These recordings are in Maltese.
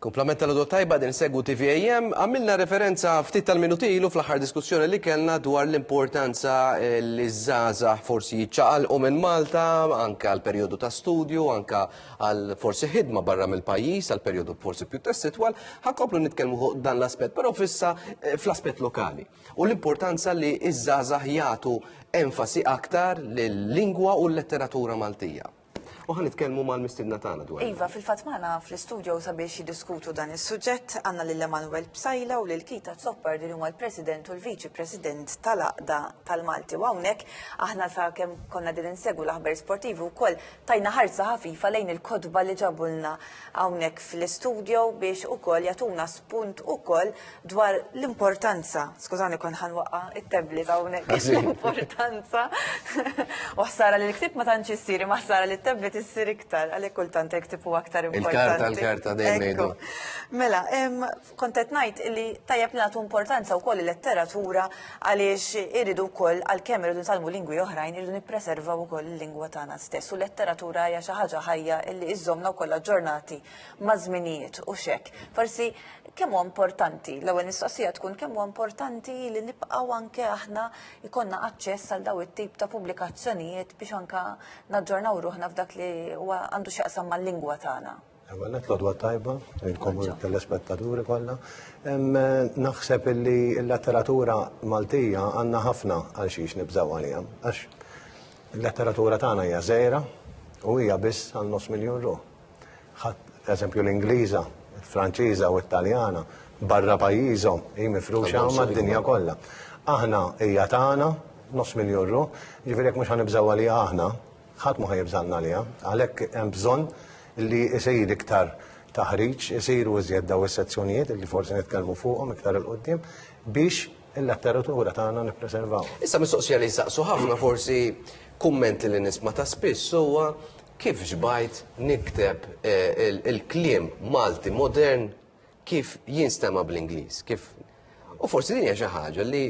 Kumplament tal-għodwa tajba qegħdin insegwu TVAM. Għamilna referenza ftit tal-minuti ilu fl-aħħar diskussjoni li kellna dwar l-importanza li ż-żgħażagħ forsi jiċċaqalqu minn Malta anke għal perjodu ta' studju, anke għal forsi ħidma barra mill-pajjiż għal perjodu forsi pjuttost itwal. Ħa nkomplu nitkellmu fuq dan l-aspett, però fissa eh, fl-aspett lokali. U l-importanza li ż-żgħażagħ jagħtu enfasi aktar lil lingwa u l-letteratura Maltija. U ħan nitkellmu mal-mistidna tagħna dwar. Iva, fil-fatt magħna fl-istudio sabiex jiddiskutu dan is-suġġett għandna lil Emanuel Psajla u lil Kita Zoppar din huma l-President u l-Viċi President tal-Aqda tal-Malti. U hawnhekk aħna sa kemm konna din insegwu l-aħbar sportivi wkoll tajna ħarsa ħafifa lejn il-kodba li ġabulna hawnhekk fl-istudio biex ukoll jagħtuna spunt ukoll dwar l-importanza, skużani kon ħanwaqa it-tebli ta' unek, l-importanza, u ħsara li l-ktib ma tantx issiri, ma ħsara li t-tebli tissir iktar, għalek kultant il-ktib u aktar importanti. Il-karta, l-karta, dejjem Mela, kontet najt li tajjeb li nagħtu importanza wkoll il-letteratura għaliex iridu wkoll għalkemm iridu nitalmu lingwi oħrajn iridu nippreservaw ukoll il-lingwa tagħna stess u letteratura hija xi ħaġa ħajja li iżżomna wkoll aġġornati maż-żminijiet u xek. Forsi Kemm huwa importanti, l-ewwel mistoqsija tkun kemm huwa importanti li nibqgħu anke aħna jkollna aċċess għal dawn it-tip ta' pubblikazzjonijiet biex anke naġġornaw ruħna f'dak li huwa għandu x'jaqsam mal-lingwa tagħna. Ewwel qed l-odwa tajba, il-komuni tal-espettaturi kollha. Naħseb illi l-letteratura Maltija għandna ħafna għal xiex nibżgħu għaliha. Għax il-letteratura tagħna hija żgħira u hija biss għal nofs miljun ruħ. Ħadd eżempju l-Ingliża, il-Franċiża u t-Taljana barra pajjiżhom hi mifruxa mad-dinja kollha. Aħna hija tagħna, nofs miljun ruħ, ġifieri jekk mhux ħanibżgħu għaliha aħna, ħadd mhu ħajibżalna għaliha. Għalhekk hemm bżonn li jsir iktar taħriġ, isiru iżjed daw is-sezzjonijiet li forsi nitkellmu fuqhom iktar il qudiem biex il-letteratura tagħna nippreservaw. Issa mistoqsija li jsaqsu ħafna forsi kummenti li nisma' ta' spiss huwa Kif xbajt nikteb il-kliem Malti modern kif jinstema' bl-Ingliż? Kif U forsi din hija xi ħaġa li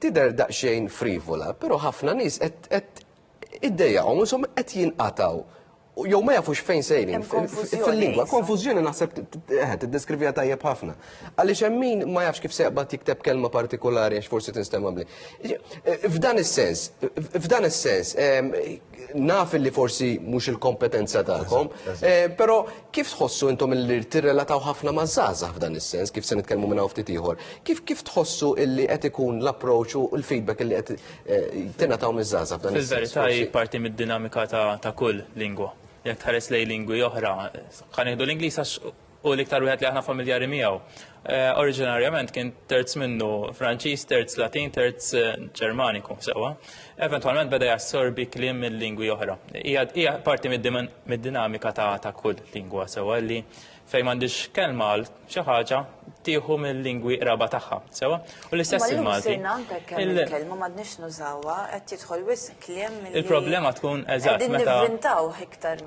tidher daqsxejn frivola, però ħafna nies qed qed iddejjaqhom ishom qed jinqatgħu jew ma jafux fejn sejrin fil-lingwa. Konfużjoni naħseb eh, tiddeskrivija tajjeb ħafna. Għaliex hemm min ma jafx kif seqbad jikteb kelma partikolari għax forsi tinstema' bli. Eh, f'dan is-sens, f'dan is-sens, ehm, naf li forsi mhux il-kompetenza tagħkom, eh, però kif tħossu intom li tirrelataw ħafna ma' żgħażagħ f'dan is-sens, kif se nitkellmu minn hawn ftit ieħor, kif kif tħossu illi qed ikun l-approċċ u l-feedback illi qed eh, tingħataw miż-żgħażagħ f'dan is-sens? Fil-verità hi parti mid-dinamika ta' kull lingwa. Jekk tħares lej lingwi oħra, ħanieħdu l-Ingliż għax u l-iktar wieħed li aħna familjari miegħu. Eh, oriġinarjament kien terz minnu Franċiż, terz Latin, terz eh, Ġermaniku sewwa. Eventwalment beda jassorbi kliem minn lingwi oħra. Hija parti mid-dinamika ta' kull lingwa sewwa li fejn m'għandix kelma għal xi ħaġa tieħu mill-lingwi qraba tagħha sewwa. U l-istess il-Malti. Kelma m'għadniex nużawha qed jidħol wisq Il-problema tkun eżatt meta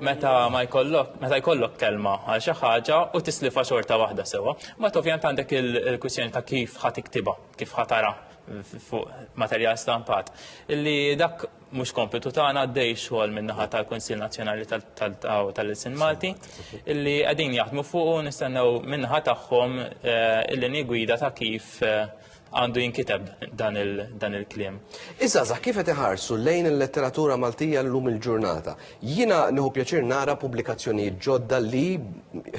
meta ma jkollok meta jkollok kelma għal xi ħaġa u tislifa xorta waħda sewwa, ma ovvjament għandek il-kwistjoni ta' kif ħadd iktiba, kif ħatara fuq materjal stampat. Illi dak mhux kompitu tagħna għaddej xogħol min-naħa tal-Kunsill Nazzjonali tal-Ilsin Malti illi qegħdin jaħdmu fuq u nistennew min-naħa tagħhom eh, il-linji gwida ta' kif eh, għandu jinkiteb dan il-klim. Issa za kif qed iħarsu lejn il-letteratura Maltija llum il-ġurnata. Jiena nieħu pjaċir nara pubblikazzjonijiet ġodda li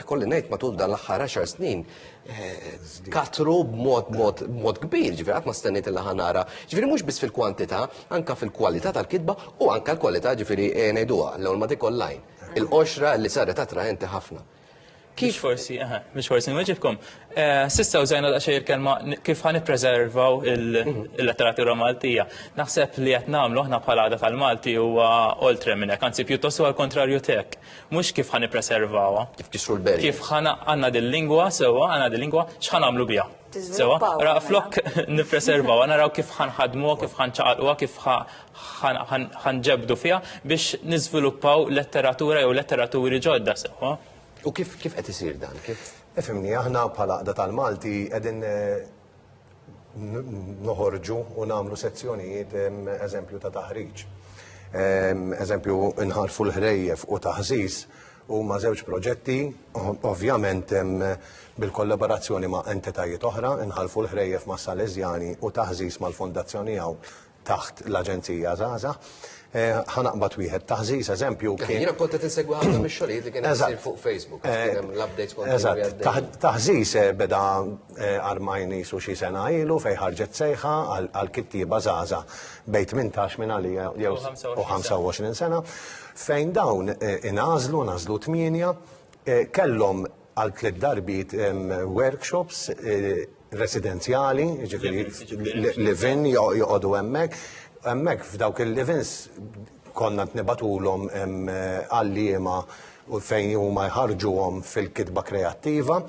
kolli ngħid matul dan l-aħħar 10 snin eh, katru b'mod mod mod kbir, ġifieri qatt ma stennejt il nara. Ġifieri mhux biss fil-kwantità, anka fil-kwalità tal-kitba u anka l-kwalità ġifieri eh, ngħiduha l-ewwel ma dik online. Il-qoxra li saret attraenti ħafna. Kif forsi, aha, mhux forsi nweġibkom. Eh, sissa użajna daqsxejn il-kelma kif ħan ippreservaw il-letteratura Maltija. Naħseb li qed nagħmlu aħna bħala għada tal-Malti huwa oltre minn hekk, anzi pjuttost huwa l-kontrarju tek. Mhux kif ħan ippreservawha. Kif kisru l-berri. Kif ħana għandna dil-lingwa sewwa, għandna dil-lingwa x'ħan nagħmlu biha. Sewa, ra flok nipreservaw, naraw kif ħanħadmuha, kif ħanċaqalquha, kif ħanġebdu fiha biex niżviluppaw letteratura jew letteraturi ġodda sewa. U kif kif qed isir dan? Kif? Ifimni, aħna bħala qda tal-Malti qegħdin eh, noħorġu u nagħmlu sezzjonijiet eżempju ta' taħriġ. Eżempju, nħarfu l-ħrejjef u taħżiż Huma żewġ proġetti, ovvjament bil-kollaborazzjoni ma' entitajiet oħra, Inħalfu l-Ħrejjef mas-Salesjani u Taħżiż mal-Fondazzjoni Għawn taħt l-Aġenzija Żgħażagħ. Ħa naqbad wieħed, Taħżiż eżempju kien. Jiena kont qed insegwi ħafna mix-xogħlijiet li kien qed isir fuq Facebook, kien hemm l-updates kontinwi. Eżatt, Taħżiż beda Armajn qisu xi sena ilu fejn ħarġet sejħa għal kittieba żgħażagħ bejn 18 minn għalija jew u 25 sena fejn dawn ingħażlu ngħażlu tmienja kellhom għal tliet darbiet workshops residenzjali, ġifieri livin joqogħdu hemmhekk, hemmhekk f'dawk il-livins konna qed nibagħtulhom għalliema u fejn huma jħarġuhom fil-kitba kreattiva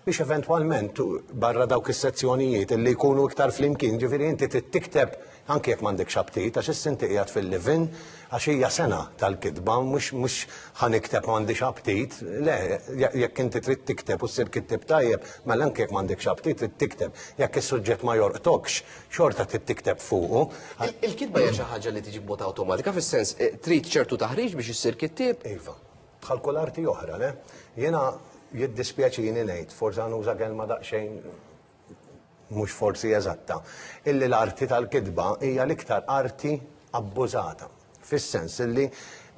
biex eventwalment barra dawk is-sezzjonijiet li jkunu iktar flimkien, ġifieri inti tikteb anke jekk m'għandekx aptit għax issa inti qiegħed fil-livin għax hija sena tal-kitba mhux ħa nikteb m'għandix aptit, le jekk inti trid tikteb u ssir kittieb tajjeb mela anke jekk m'għandekx aptit trid tikteb. Jekk is-suġġett ma jorqtokx xorta trid tikteb fuqu. Il-kitba hija xi ħaġa li tiġi b'mod awtomatika, fis-sens eh, trid ċertu taħriġ biex issir kittieb. Iva, bħal kull arti oħra, le? Jiena jiddispjaċini ngħid, forsi nuża kelma daqsxejn mhux forsi eżatta, illi l-arti tal-kitba hija l-iktar arti abbużata. Fis-sens li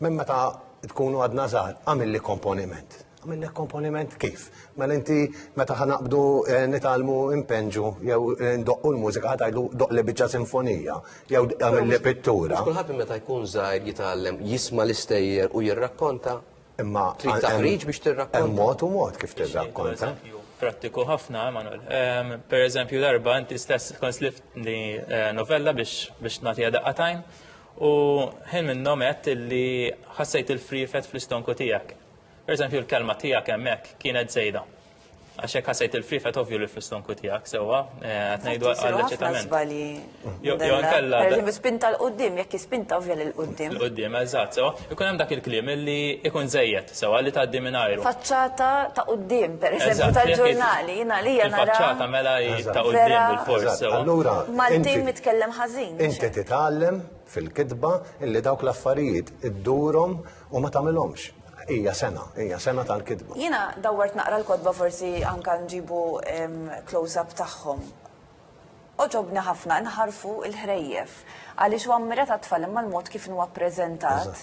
minn meta tkunu għadna żgħar, għamilli komponiment. Għamillek komponiment kif? Mela inti meta ħanaqbdu eh, nitalmu impenġu jew eh, ndoqqu l-mużika ħatajlu doqqli biċċa sinfonija jew għamilli pittura. Kulħadd meta jkun żgħar jitgħallem jisma' l-istejjer u jirrakkonta Imma trid taħriġ biex tirrakkonta. Hemm mod u mod kif tirrakkonta. Prattiku ħafna, Emanuel. Ehm, per eżempju, darba inti stess tkun slift li eh, novella biex biex nagħtiha daqqatajn u ħin minnhom qed li ħassejt il-frifet fl-istonku tiegħek. Per eżempju, l-kelma tiegħek hemmhekk kienet żejda. Għax hekk ħassejt il-free fat ovvju li fl-istonku tiegħek sewwa eh, qed ngħidu għall-eċitament. Jo nkella. Pereżempju spinta l qudiem jekk jispinta ovvja lil qudiem. L qudiem eżatt sewwa. Ikun hemm dak il-kliem li ikun żejjed sewwa li tgħaddi minn ajru. Faċċata ta' qudiem pereżempju tal-ġurnali jiena li jiena nara. Faċċata mela ta' qudiem bil-fors sewwa. Allura Maltin mitkellem ħażin. Inti titgħallem fil-kitba illi dawk l-affarijiet iddurhom U ma tagħmilhomx. Hija sena, hija sena tal-kidba. Jiena dawwart naqra l-kotba forsi anka nġibu close-up tagħhom. Għoġobni ħafna nħarrfu l-ħrejjef għaliex hu ammirat għat-tfal imma l-mod kif inhu appreżentat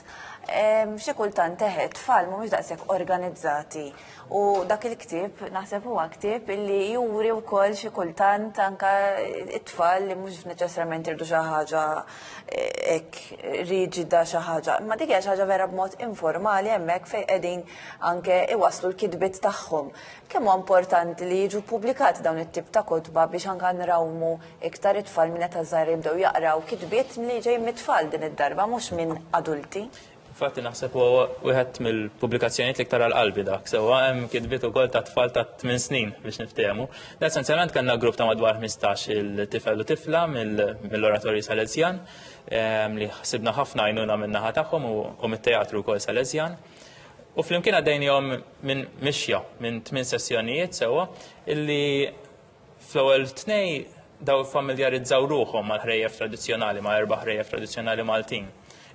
xi kultant eħe, t-tfal mhumiex daqshekk organizzati. U dak il-ktieb, naħseb huwa ktieb li juri wkoll xi kultant anka it-tfal li mhux neċessarjament irdu xi ħaġa eh, hekk riġida xi ħaġa. Imma dik hija xi ħaġa vera b'mod informali hemmhekk fejn qegħdin anke iwaslu l-kitbiet tagħhom. Kemm huwa importanti li jiġu ppubblikati dawn it-tip ta' kotba biex anka nrawmu iktar it-tfal minn qed żgħar jibdew jaqraw kitbiet li ġej mit-tfal din id-darba mhux minn adulti. Fatti naħseb u wieħed mill-pubblikazzjonijiet li ktar għal-qalbi dak, sewa hemm kitbiet ukoll ta' tfal ta' 8 snin biex niftehmu. Essenzjalment kellna grupp ta' madwar 15 il-tifel u tifla mill-oratorju Salesjan ehm, li ħsibna ħafna għajnuna min-naħa tagħhom u mit-teatru wkoll Salesjan. U flimkien għaddejnihom minn mixja minn tmien sessjonijiet sewa illi Fl-ewwel tnej daw iffamiljarizzaw ruħhom mal-ħrejjef tradizzjonali, ma' erba' ħrejjef tradizzjonali Maltin.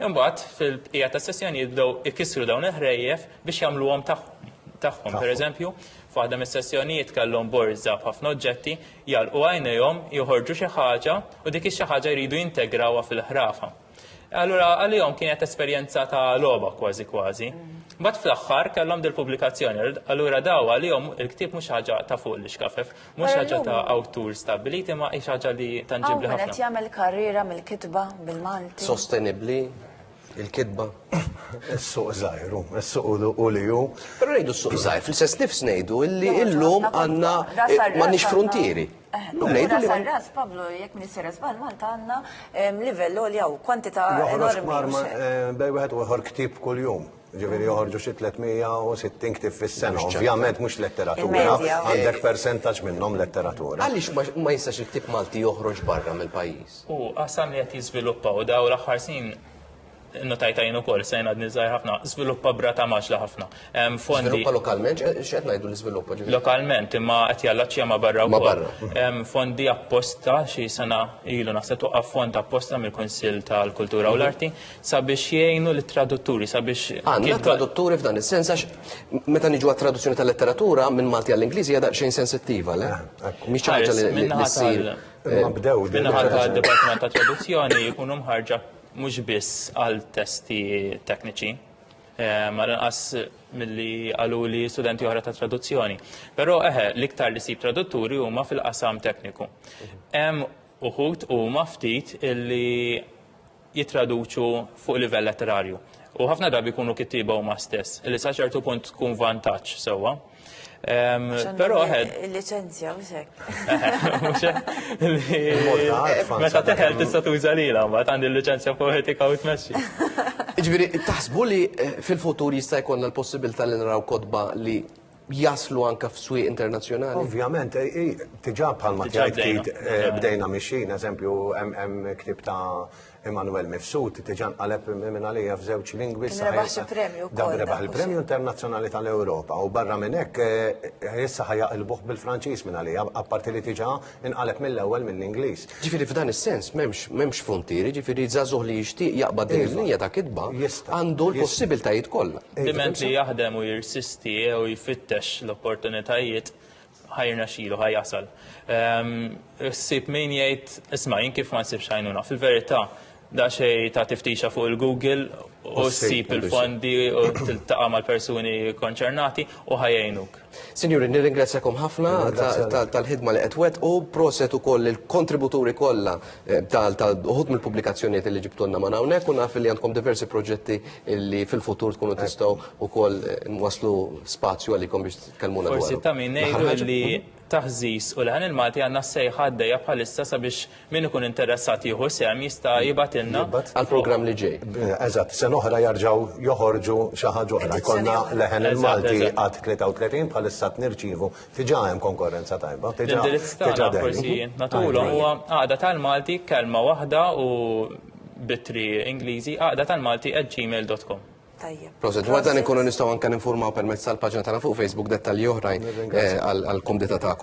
Imbagħad fil-bqija tas-sessjoni jibdew ikissru dawn il-ħrejjef biex jagħmluhom tagħhom. Pereżempju, f'waħda mis-sessjonijiet kellhom borża b'ħafna oġġetti, jagħlqu għajnejhom, joħorġu xi ħaġa u dik ix-xi ħaġa jridu jintegrawha fil-ħrafa. Allura għalihom kienet esperjenza ta' logħba kważi kważi. Bat fl-axħar kellhom del pubblikazzjoni allura daw għalihom il-ktieb mhux ħaġa ta' fuq li xkafef, mhux ħaġa ta' awtur stabiliti ma' hi ħaġa li tanġibli ħafna. Qed jagħmel karriera mill-kitba bil-Malti. Sostenibbli il-kitba. Is-suq żgħir, is-suq u li hu. Però ngħidu s-suq żgħir, fl-istess nifs ngħidu illi illum għandna m'għandniex frontieri. Ura sarras, Pablo, jek minn sarras bal Malta għanna livell li għaw kwantita enormi. Bej wieħed uħor ktib kull jum. Ġiviri joħorġu xi 360 ktib fis-sena. Ovvjament mhux letteratura, għandek percentaġġ minnhom letteratura. Għaliex ma jistax il-ktib Malti joħroġ barra mill-pajjiż? U qasam li qed jiżviluppaw daw l-aħħar snin notajta jien ukoll se jien għadni żgħir ħafna, żviluppa brata maġla ħafna. Fondi. Żviluppa lokalment, x'qed ngħidu l-iżviluppa ġifieri? Lokalment, imma qed jallaċċja ma' barra wkoll. Fondi apposta xi sena ilu naħseb toqgħod fond apposta mill-Kunsill tal-Kultura u l-Arti sabiex jgħinu lit-tradutturi sabiex. Għandna tradutturi f'dan is-sens għax meta niġu għat-traduzzjoni tal-letteratura minn Malti għall-Ingliżi hija daqsxejn sensittiva, le? Mhix ħaġa li ssir. Minnaħa tad-Dipartiment ta' Traduzzjoni jkunu mħarġa mhux biss għal testi tekniċi, eh, ma lanqas milli għaluli studenti oħra ta' traduzzjoni. Però eħe, l-iktar li sib tradutturi huma fil-qasam tekniku. Hemm uħut huma ftit illi jitraduċu fuq livell letterarju. U ħafna drabi jkunu kittiba huma stess, li sa ċertu punt tkun vantaġġ sewwa. So Pero għed. Il-licenzja, mxek. Meta teħel tista tuża li la, ma għandi l-licenzja poetika u tmexxi. Ġviri, taħsbu li eh, fil-futur jista' jkollna l-possibilità li naraw kodba li jaslu anka f'swi internazzjonali? Ovvjament, eh, eh, tiġa bħalma tgħid bdejna mixin, eżempju, hemm ktib ta' Emanuel Mifsud diġà nqaleb minn għalija f'żewġ lingwi Kien rebaħ xi premju wkoll. Dan rebaħ il-Premju Internazzjonali tal-Ewropa u barra minn hekk eh, issa ħajaqilbuh bil-Franċiż minn għalija, apparti li diġà inqaleb mill-ewwel mill-Ingliż. Ġifieri f'dan is-sens m'hemmx m'hemmx frontieri, ġifieri żagħżugħ li jixtieq jaqbad din il-linja ta' kitba għandu l-possibiltajiet kollha. Diment li jaħdem u jirsisti jew jfittex l-opportunitajiet ħajrna xilu, ħaj jasal. Ehm, Sib min jgħid, isma' jien kif ma nsibx għajnuna. Fil-verità, da xej ta' tiftixa fuq il-Google u sib il-fondi u tiltaqa' mal-persuni konċernati u ħajajnuk. Sinjuri, nirringrazzjakom ħafna tal-ħidma li qed wet u proset ukoll il-kontributuri kollha eh, tal-uħud mill-pubblikazzjonijiet li ġibtulna ma' hawnhekk u naf li għandkom diversi proġetti li fil-futur tkunu tistgħu ukoll eh, waslu spazju għalikom biex Forsi ta' min ngħidu li taħżiż u l-ħan il-Malti għandna s-sejħa għaddejja bħalissa sabiex min ikun interessat jieħu sehem jista' jibgħatilna. Għall-programm li ġej. Eżatt, sen oħra jarġgħu joħorġu xi ħaġa oħra. Jkollna leħen il-Malti għad 33 bħalissa nirċievu diġà hemm konkorrenza tajba. L-indirizz tagħna forsi natulhom huwa għaqda tal-Malti kelma waħda u bitri Ingliżi għaqda tal-Malti at gmail.com. Tajjeb. Proset, għadda nkunu nistaw anka ninformaw permezz tal-pagġna tagħna fuq Facebook dettalji oħrajn eh, għal-kumdita tagħkom.